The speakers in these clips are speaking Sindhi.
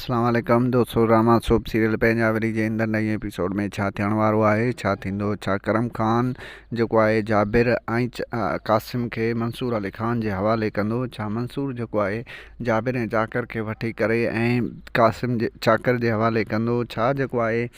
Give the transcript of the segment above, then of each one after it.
اسلام عليڪم دوستو رحمان سوڀ سيريل پينجاوري جي اندر نئين ايپيسوڊ ۾ ڇا ٿيڻ وارو آهي ڇا ٿيندو ڇا ڪرم خان جيڪو آهي جابر ۽ قاسم کي منصور علي خان جي حوالي ڪندو ڇا منصور جيڪو آهي جابر ۽ چاڪر کي وٺي ڪري ۽ قاسم جي چاڪر جي حوالي ڪندو ڇا جيڪو آهي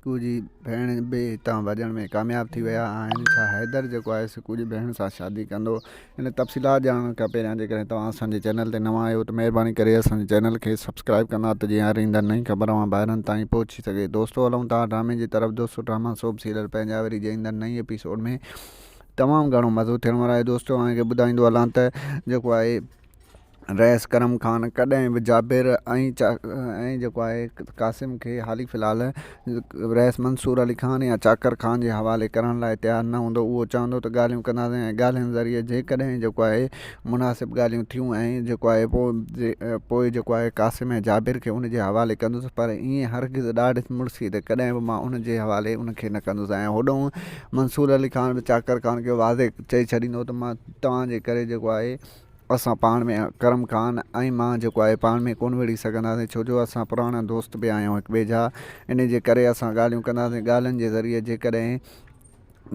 سڪوء جي ڀيڻ به هتان ڀڄڻ ۾ ڪامياب ٿي ويا آهن. ڇا حيدر جيڪو آهي سڪوء جي ڀيڻ سان شادي ڪندو؟ ان تفصيلات ڄاڻڻ کان پهريان جيڪڏهن توهان اسان جي چينل تي نوان آهيو ته مهرباني ڪري اسان جي چينل کي سبسڪرائيب ڪندا ته جيئن هر ايندڙ نئين خبر اوهان ڀائرن تائين پهچي سگهي. دوستو هلون ٿا ڊرامي جي طرف دوستو ڊراما سوڀ سيريل پنهنجا وري جي ايندڙ نئين ايپيسوڊ ۾ تمام گهڻو مزو ٿيڻ وارو آهي دوستو اوهان کي ٻڌائيندو هلان ته جيڪو آهي رئيس ڪرم خان ڪڏهن به جابر ۽ جيڪو آهي قاسم کي حال ئي في الحال رئيس منصور علي خان يا چاڪر خان جي حوالي ڪرڻ لاء تيار نه هوندو اهو چوندو ته ڳالهيون ڪنداسين ۽ ڳالهين ذريعي جيڪڏهن جيڪو آهي مناسب ڳالهيون ٿيون ۽ جيڪو آهي پوء جيڪو آهي قاسم ۽ جابر کي ان جي حوالي ڪندس پر ائين هرگز ڏاڍ مڙسي ته ڪڏهن به مان ان جي حوالي ان کي نه ڪندس ۽ هوڏانهن منصور علي خان به چاڪر خان کي واضح چئي ڇڏيندو ته مان توهان جي ڪري جيڪو آهي اسان پاڻ ۾ اڪرم خان ۽ مان جيڪو آهي پاڻ ۾ ڪونه وڙهي سگهنداسين ڇو جو اسان پراڻا دوست به آهيون هڪ ٻئي جا ان جي ڪري اسان ڳالهيون ڪنداسين ڳالهين جي ذريعي جيڪڏهن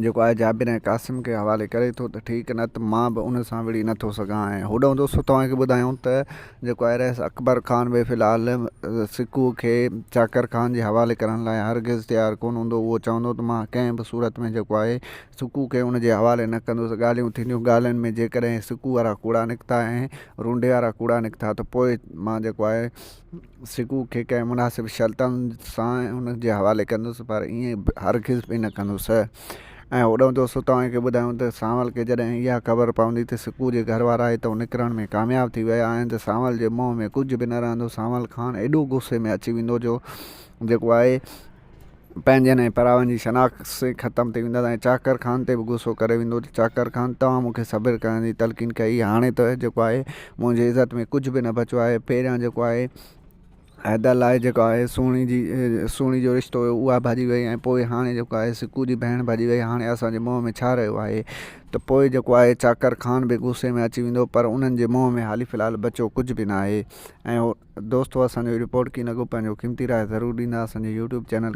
جيڪو آهي جابر ۽ قاسم کي حوالي ڪري ٿو ته ٺيڪ نه ته مان به ان سان وڙهي نٿو سگهان ۽ هوڏانهن دوستو توهان کي ٻڌايون ته جيڪو آهي رئيس اڪبر خان به في الحال سڪوء کي چاڪر خان جي حوالي ڪرڻ لاء هرگز تيار ڪونه هوندو اهو چوندو ته مان ڪنهن به صورت ۾ جيڪو آهي سڪوء کي ان جي حوالي نه ڪندس. ڳالهيون ٿينديون. ڳالهين ۾ جيڪڏهن هي سڪوء وارا ڪوڙا نڪتا ۽ رونڊي وارا ڪوڙا نڪتا ته پوء مان جيڪو آهي سڪوء کي ڪنهن مناسب شرطن سان ان جي حوالي ڪندس پر ائين هرگز به نه ڪندس ۽ اڏامندس. سو توهان کي ٻڌايون ته سانول کي جڏهن اها خبر پوندي ته سڪوء جي گهر وارا هتئون نڪرڻ ۾ ڪامياب ٿي ويا آهن ته سانول جي منهن ۾ ڪجهه به نه رهندو. سانول خان ايڏو غصي ۾ اچي ويندو جو جيڪو آهي پنهنجن ۽ پراون جي شناخت ختم ٿي ويندس ۽ چاڪر خان تي به غصو ڪري ويندو ته چاڪر خان توهان مون کي صبر ڪرڻ جي تلقين ڪئي هاڻي ته جيڪو آهي منهنجي عزت ۾ ڪجهه به نه بچيو آهي پهريان جيڪو آهي حيدر لاء جيڪو آهي سهڻي جي سهڻي جو رشتو هيو اها ڀڄي وئي ۽ پوء هاڻي جيڪو آهي سڪو جي ڀيڻ ڀڄي وئي هاڻي اسان جي منهن ۾ ڇا رهيو آهي ته پوء جيڪو آهي چاڪر خان به غصي ۾ اچي ويندو پر انهن جي منهن ۾ حالي في الحال بچيو ڪجهه به ناهي ۽ دوستو اسان جو رپورٽ ڪين اڳو پنهنجو قيمتي راء ضرور ڏيندا اسان جي يوٽيوب چينل کي